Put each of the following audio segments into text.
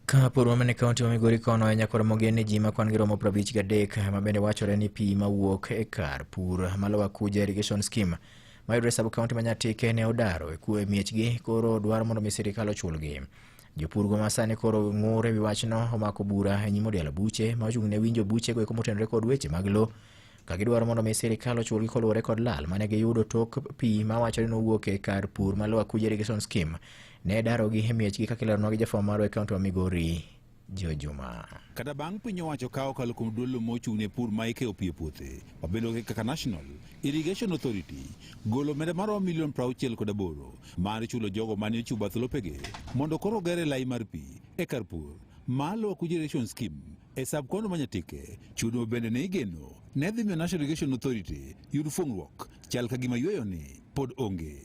Ka pod wamene kaunti ma Migori kono e nyakwar mogen ni ji ma kwan-gi romo prabich gadek ma bende wachore ni pi ma wuok e kar pur ma Lower Kuja Irrigation Scheme mayudore e sub kaunti ma Nyatike ne odaro e kuwe miechgi koro dwaro mondo mi sirikal ochulgi. Jopurgo ma sani koro ng'ur e wi wachno omako bura e nyim odialo buche ma ochung' ne winjo buchego eko motenore kod weche mag lo ka gidwaro mondo mi sirikal ochulgi koluwore kod lal mane giyudo tok pi ma wacho ni nowuok e kar pur ma Lower Kuja Irrigation Scheme ne darogi e miechgi kaka ileronwa gi jafwambo marwa e kaunti ma Migori Joe Juma. Kata bang' piny owacho kawo kalo kuom duolno mochung' ne pur ma ikeyo pi e puothe mabedo kaka National Irrigation Authority golo omenda maromo milion 68 kod aboro mar chulo jogo mane ochiwo bath lopege mondo koro ogere lai mar pi e kar pur ma Lower Kuja Irrigation Scheme E sub kono ma Nyatike, chudo bende ne igeno ne dhi miyo National Irrigation Authority yud fuong'ruok chal ka gima yueyo ni pod onge.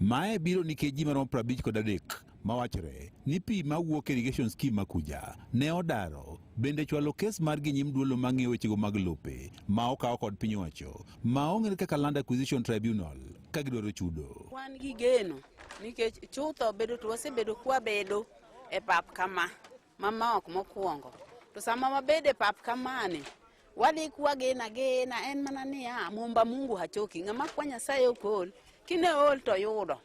Mae biro nikech ji maromo prabich kod adek mawachore ni pi ma wuok irrigation scheme makuja ne odaro bende chwalo kes mar gi nyim duolo ma ng'iyo wechego mag lope ma okawo kod piny owacho ma ong'ere kaka Land Acquisition Tribunal ka gidwaro chudo. Wan gi geno nikech chutho bedo to wasebedo kwabedo e pap kama mamok mokwongo to sama wabede pap kamani wadhi kwagena gena en mana niya mumba mungu hachoki ng'ama kwa nyasaye okol kine ol to yudo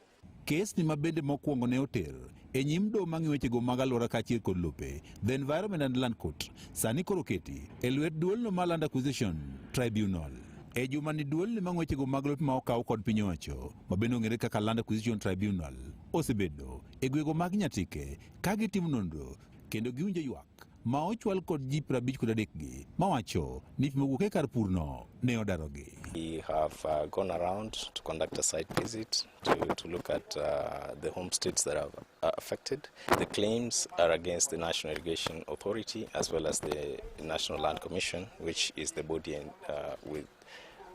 Kesni ma bende mokwongo ne oter e nyim doho mang'i wechego mag alwora kaachiel kod lope The Environment and Land Court sani koro keti e lwet duolno ma Land Acquisition Tribunal. E juma ni duolni ma ng'wechego mag lope ma okaw kod piny owacho ma bende ong'ere kaka Land Acquisition Tribunal osebedo e gwego mag Nyatike Ka gitimo nonro kendo giwinjo ywak ma ochwal kod ji prabich kod adek gi mawacho ni pi mowuok e kar purno ne odarogi. We have uh, gone around to conduct a site visit to, to look at uh, the homesteads that are uh, affected. The claims are against the National Irrigation Authority as well as the National Land Commission, which is the body uh, with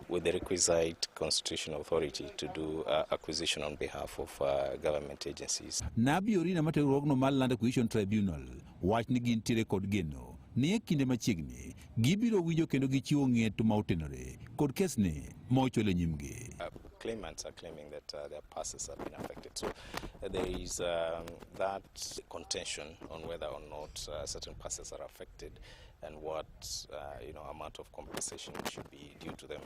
with the requisite constitutional authority to do uh, acquisition on behalf of uh, government agencies. Nabi Orina mate rogno mar Land Acquisition Tribunal wach ni gin tire kod geno ni e kinde machiegni gibiro winjo kendo gichiwo ng'eto ma otenore kod kesni ma ochwal e nyimgi. Uh, claimants are claiming that uh, their passes have been affected. So uh, there is um, that contention on whether or not uh, certain passes are affected. and what uh, you know amount of compensation should be due to them.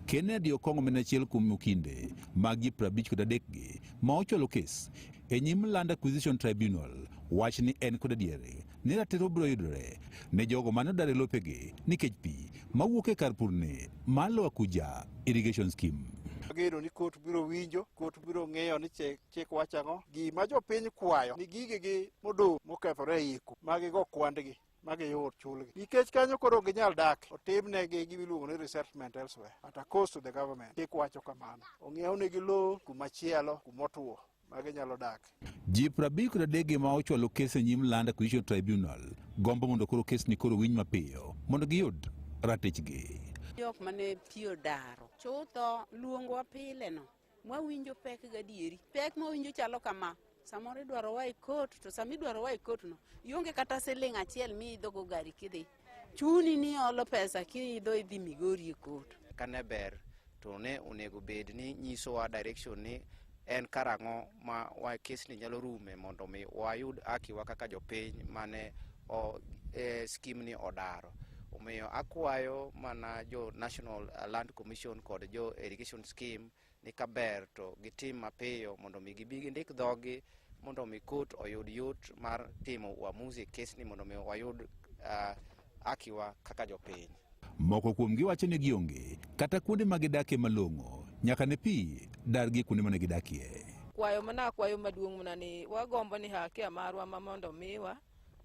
Kennedy Okongo en achiel kuom okinde mag ji 50 kod adekgi ma ochwalo kes e nyim Land Acquisition Tribunal wach ni en kod adieri ni ratiro biro yudore ne jogo mane odar e lopegi nikech pi ma wuok e kar purni mar Lower Kuja Irrigation Scheme. Ageno ni kot biro winjo, kot biro ng'eyo ni chik, chik wacho ang'o. Gima jopiny kwayo ni gigegi modong' mokethore e iko, magigo kwandgi. ma giyud chulgi nikech kanyo koro ok ginyal dak otimnegi gimiluongo ni resettlement elsewhere at a cost to the government chik wacho kamano ong'iewnegi lowo kumachielo kumotwo ma ginyalo dak ji prabich kod adege ma ochwalo kes e nyim land acquisition tribunal gombo mondo koro kes ni koro winj mapiyo mondo giyud ratichgi jok mane tiyo daro chutho luongwa pile no Mwawinjo pek gadieri. Pek mawinjo chalo kama. Samoro idwaro wa e kot, to sama idwaro wa e kot no, ionge kata siling' achiel miidhogo gari kidhi. Chuni ni olo pesa kiidho idhi Migori e kot. Kane ber to ne onego bed ni nyisowa direction ni en karang'o ma wa kesni nyalo rume mondo mi wayud akiwa kaka jopiny mane o, e, skim ni odaro omiyo akwayo mana jo national land commission kod jo irrigation scheme ni kaber to gitim mapiyo mondo mi gibi gindik dhogi mondo mi kot oyud yot mar timo uamuzi e kesni mondo mi wayud uh, akiwa kaka jopiny. Moko kuomgi wacho ni gionge kata kuonde ma gidakie malong'o nyaka ne pi dargi kuonde mane gidakie. Kwayo mana kwayo maduong' mana ni wagombo ni hakia marwa ma mondo miwa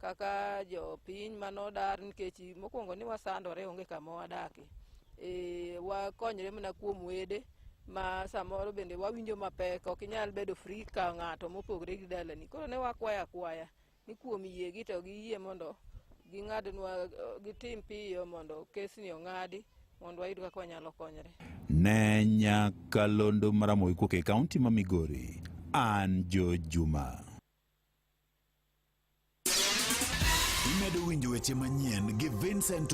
kaka jopiny manodar nikech mokwongo ni wasandore onge kama wadakie. E, wakonyre mana kuom wede ma samoro bende wawinjo mapek ok inyal bedo free ka ng'ato mopogre gi dalani koro ne wakwayo akwaya ni kuom yiegi to giyie mondo ging'adnwa gitim piyo mondo kesni ong'adi mondo wayud kaka wanyalo konyre. Ne Nyakalondo Maramogi kok e kaunti ma Migori, an Jo Juma. Imedo winjo weche manyien gi Vincent